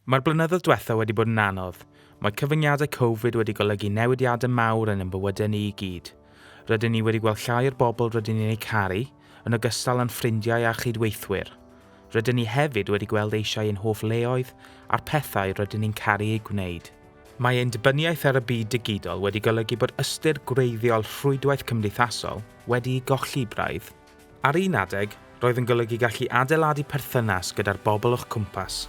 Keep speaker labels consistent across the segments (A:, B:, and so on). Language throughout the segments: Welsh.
A: Mae'r blynyddoedd diwethaf wedi bod yn anodd. Mae cyfyngiadau Covid wedi golygu newidiadau mawr yn ein bywydau ni i gyd. Rydyn ni wedi gweld llai o'r bobl rydyn ni'n eu caru, yn ogystal â'n ffrindiau a chydweithwyr. Rydyn ni hefyd wedi gweld eisiau ein hoff leoedd a'r pethau rydyn ni'n caru eu gwneud. Mae ein dibyniaeth ar y byd digidol wedi golygu bod ystyr gwreiddiol rhwydwaith cymdeithasol wedi'i golli braidd. Ar un adeg, roedd yn golygu gallu adeiladu perthynas gyda'r bobl o'ch cwmpas.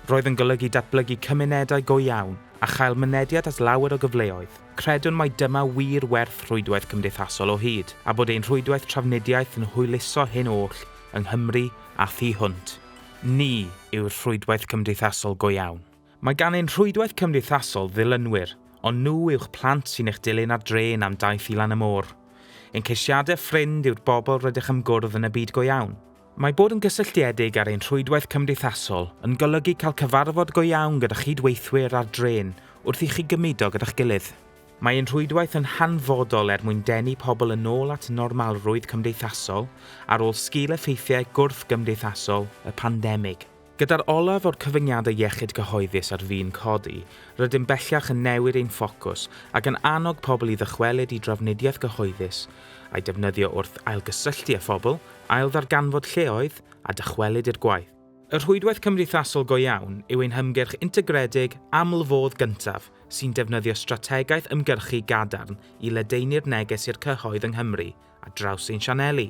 A: Roedd yn golygu datblygu cymunedau go iawn a chael mynediad at lawer o gyfleoedd. Credwn mai dyma wir werth rhwydwaith cymdeithasol o hyd, a bod ein rhwydwaith trafnidiaeth yn hwyluso hyn oll yng Nghymru a thu hwnt. Ni yw'r rhwydwaith cymdeithasol go iawn. Mae gan ein rhwydwaith cymdeithasol ddilynwyr, ond nhw yw'ch plant sy'n eich dilyn ar drên am daith i lan y môr. Ein ceisiadau ffrind yw'r bobl rydych am gwrdd yn y byd go iawn. Mae bod yn gysylltiedig ar ein rhwydwaith cymdeithasol yn golygu cael cyfarfod go iawn gyda chyd-weithwyr ar drên wrth i chi gymudo gyda'ch gilydd. Mae ein rhwydwaith yn hanfodol er mwyn denu pobl yn ôl at normalrwydd cymdeithasol ar ôl sgil-effeithiau gwrthgymdeithasol y pandemig. Gyda'r olaf o'r cyfyngiadau iechyd cyhoeddus ar fin codi, rydym bellach yn newid ein ffocws ac yn annog pobl i ddychwelyd i drafnidiaeth gyhoeddus, a'i defnyddio wrth ailgysylltu â phobl, ailddarganfod lleoedd, a dychwelyd i'r gwaith. Y rhwydwaith cymdeithasol go iawn yw ein hymgyrch integredig aml-fodd gyntaf sy'n defnyddio strategaeth ymgyrchu gadarn i ledaenu'r neges i'r cyhoedd yng Nghymru ar draws ein sianeli,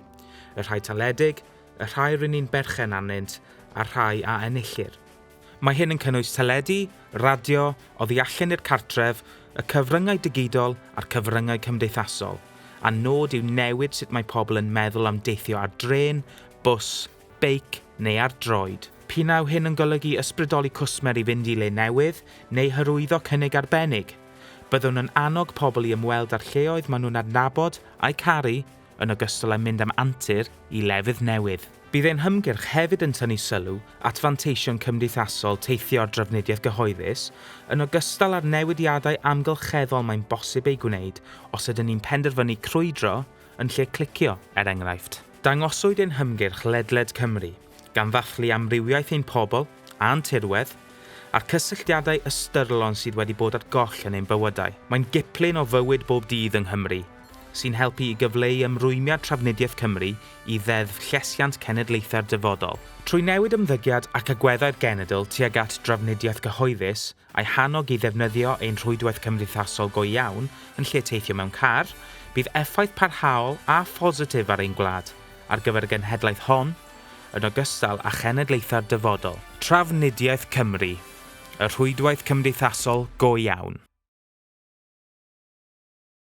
A: y rhai taledig, y rhai rŷn ni'n berchen arnynt a'r rhai a enillir. Mae hyn yn cynnwys teledu, radio, oddi allan i'r cartref, y cyfryngau digidol a'r cyfryngau cymdeithasol, a'n nod yw newid sut mae pobl yn meddwl am deithio ar drên, bws beic neu ar droed. Pinnau hyn yn golygu ysbrydoli cwsmer i fynd i le newydd neu hyrwyddo cynnig arbennig. Byddwn yn annog pobl i ymweld â'r lleoedd maen nhw'n adnabod a'u caru, yn ogystal â mynd am antur i lefydd newydd. Bydd ein hymgyrch hefyd yn tynnu sylw at fanteision cymdeithasol teithio ar drafnidiaeth gyhoeddus, yn ogystal â'r newidiadau amgylcheddol mae'n bosib eu gwneud os ydyn ni'n penderfynu crwydro, yn lle clicio, er enghraifft. Dangoswyd ein hymgyrch ledled Cymru, gan ddathlu amrywiaeth ein pobl a'n tirwedd, a'r cysylltiadau ystyrlon sydd wedi bod ar goll yn ein bywydau. Mae'n giplyn o fywyd bob dydd yng Nghymru, sy'n helpu i gyfleu ymrwymiad Trafnidiaeth Cymru i Ddeddf Llesiant Cenedlaethau'r Dyfodol. Trwy newid ymddygiad ac agweddau'r genedl tuag at drafnidiaeth gyhoeddus, a'i hannog i ddefnyddio ein rhwydwaith cymdeithasol go iawn yn lle teithio mewn car, bydd effaith parhaol a phositif ar ein gwlad, ar gyfer y genhedlaeth hon, yn ogystal â chenedlaethau'r dyfodol. Trafnidiaeth Cymru, y rhwydwaith cymdeithasol go iawn.